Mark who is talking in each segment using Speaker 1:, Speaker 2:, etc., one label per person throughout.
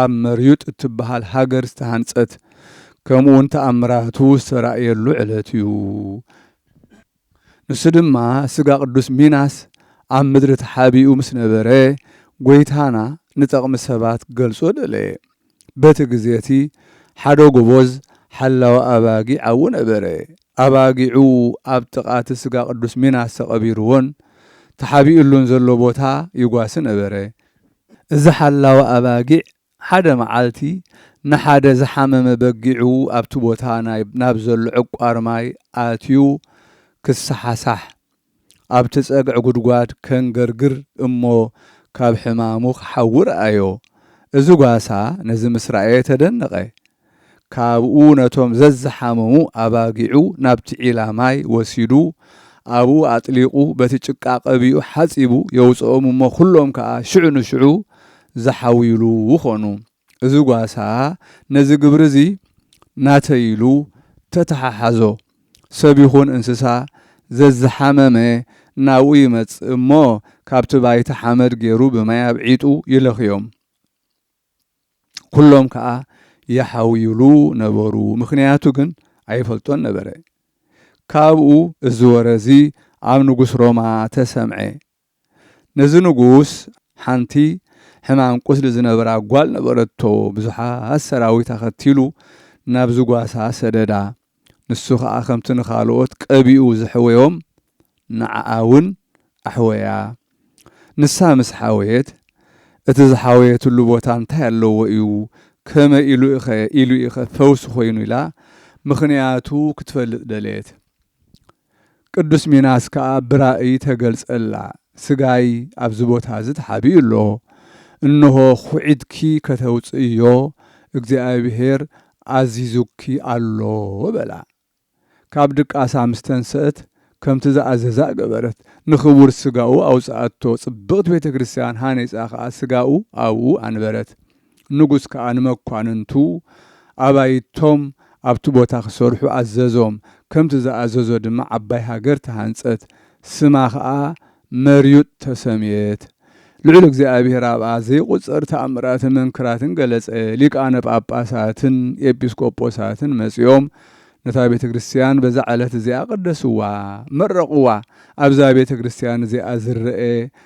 Speaker 1: ኣብ መርዩጥ እትበሃል ሃገር ዝተሃንጸት ከምኡውን ተኣምራቱ ዝተራእየሉ ዕለት እዩ። ንሱ ድማ ስጋ ቅዱስ ሚናስ ኣብ ምድሪ ተሓቢኡ ምስ ነበረ ጐይታና ንጠቕሚ ሰባት ክገልጾ ደለየ። በቲ ግዜ እቲ ሓደ ጎቦዝ ሓላዊ ኣባጊዕ ኣብኡ ነበረ። ኣባጊዑ ኣብ ጥቓ እቲ ስጋ ቅዱስ ሚናስ ተቐቢርዎን ተሓቢኡሉን ዘሎ ቦታ ይጓሲ ነበረ። እዚ ሓላዊ ኣባጊዕ ሓደ መዓልቲ ንሓደ ዝሓመመ በጊዑ ኣብቲ ቦታ ናብ ዘሎ ዕቋር ማይ ኣትዩ ክሰሓሳሕ፣ ኣብቲ ጸግዒ ጉድጓድ ከንገርግር እሞ ካብ ሕማሙ ክሓዊ ረኣዮ። እዚ ጓሳ ነዚ ምስ ረኣየ ተደነቐ፣ ካብኡ ነቶም ዘዝሓመሙ ኣባጊዑ ናብቲ ዒላ ማይ ወሲዱ ኣብኡ ኣጥሊቑ በቲ ጭቃ ቀቢኡ ሓጺቡ የውጽኦም እሞ ኩሎም ከኣ ሽዑ ንሽዑ ዝሓውዩሉ ኾኑ። እዚ ጓሳ ነዚ ግብሪ እዚ ናተይ ኢሉ ተተሓሓዞ። ሰብ ይኹን እንስሳ ዘዝሓመመ ናብኡ ይመጽእ እሞ ካብቲ ባይታ ሓመድ ጌሩ ብማይ ኣብዒጡ ይለኽዮም። ኩሎም ከኣ ይሓውዩሉ ነበሩ፣ ምኽንያቱ ግን ኣይፈልጦን ነበረ። ካብኡ እዚ ወረ እዚ ኣብ ንጉስ ሮማ ተሰምዐ። ነዚ ንጉስ ሓንቲ ሕማም ቁስሊ ዝነበራ ጓል ነበረቶ፣ ብዙሓት ሰራዊት ኣኸቲሉ ናብዚ ጓሳ ሰደዳ። ንሱ ኸኣ ከምቲ ንኻልኦት ቀቢኡ ዘሕወዮም ንዓኣ እውን ኣሕወያ። ንሳ ምስ ሓወየት፣ እቲ ዝሓወየትሉ ቦታ እንታይ ኣለዎ እዩ፣ ከመይ ኢሉ'ኸ ኢሉ'ዩ'ኸ ፈውሲ ዀይኑ ኢላ ምኽንያቱ ክትፈልጥ ደለየት። ቅዱስ ሚናስ ከኣ ብራእይ ተገልጸላ፣ ሥጋይ ኣብዚ ቦታ እዚ ተሓቢኡ ኣሎ፣ እንሆ ኹዒትኪ ከተውጽእዮ እግዚኣብሔር ኣዚዙኪ ኣሎ በላ። ካብ ድቃሳ ምስ ተንሥእት ከምቲ ዝኣዘዛ ገበረት፣ ንኽቡር ሥጋኡ ኣውጽኣቶ፣ ጽብቕቲ ቤተ ክርስቲያን ሃኒጻ ከኣ ሥጋኡ ኣብኡ ኣንበረት። ንጉስ ከኣ ንመኳንንቱ ኣባይቶም ኣብቲ ቦታ ኺሰርሑ ኣዘዞም። ከምቲ ዝኣዘዞ ድማ ዓባይ ሃገር ተሃንጸት፣ ስማ ኸኣ መርዩጥ ተሰምየት። ልዑል እግዚኣብሄር ኣብኣ ዘይቝጸር ተኣምራትን መንክራትን ገለጸ። ሊቃነ ጳጳሳትን ኤጲስቆጶሳትን መጺኦም ነታ ቤተ ክርስትያን በዛ ዕለት እዚኣ ቐደስዋ፣ መረቕዋ። ኣብዛ ቤተ ክርስትያን እዚኣ ዝረኤ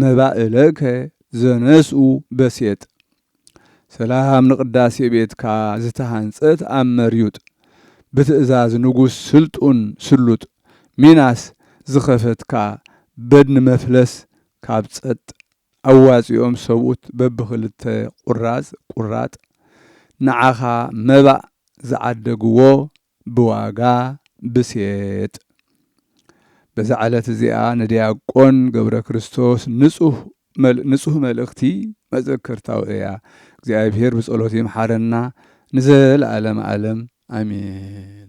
Speaker 1: መባእለከ ዘነስኡ በሴጥ ሰላም ንቅዳሴ ቤትካ ዝተሃንጸት ኣብ መርዩጥ ብትእዛዝ ንጉስ ስልጡን ስሉጥ ሚናስ ዝኸፈትካ በድኒ መፍለስ ካብ ጸጥ ኣዋጺኦም ሰብኡት በብኽልተ ቁራጽ ቁራጥ ንዓኻ መባእ ዝዓደግዎ ብዋጋ ብሴጥ በዛ ዕለት እዚኣ ንድያቆን ገብረክርስቶስ ንጹህ ንጹህ መልእኽቲ መዘከርታኡ እያ እግዚኣብሔር ብጸሎቱ ይምሓረና ንዘለኣለም ኣለም ኣሜን።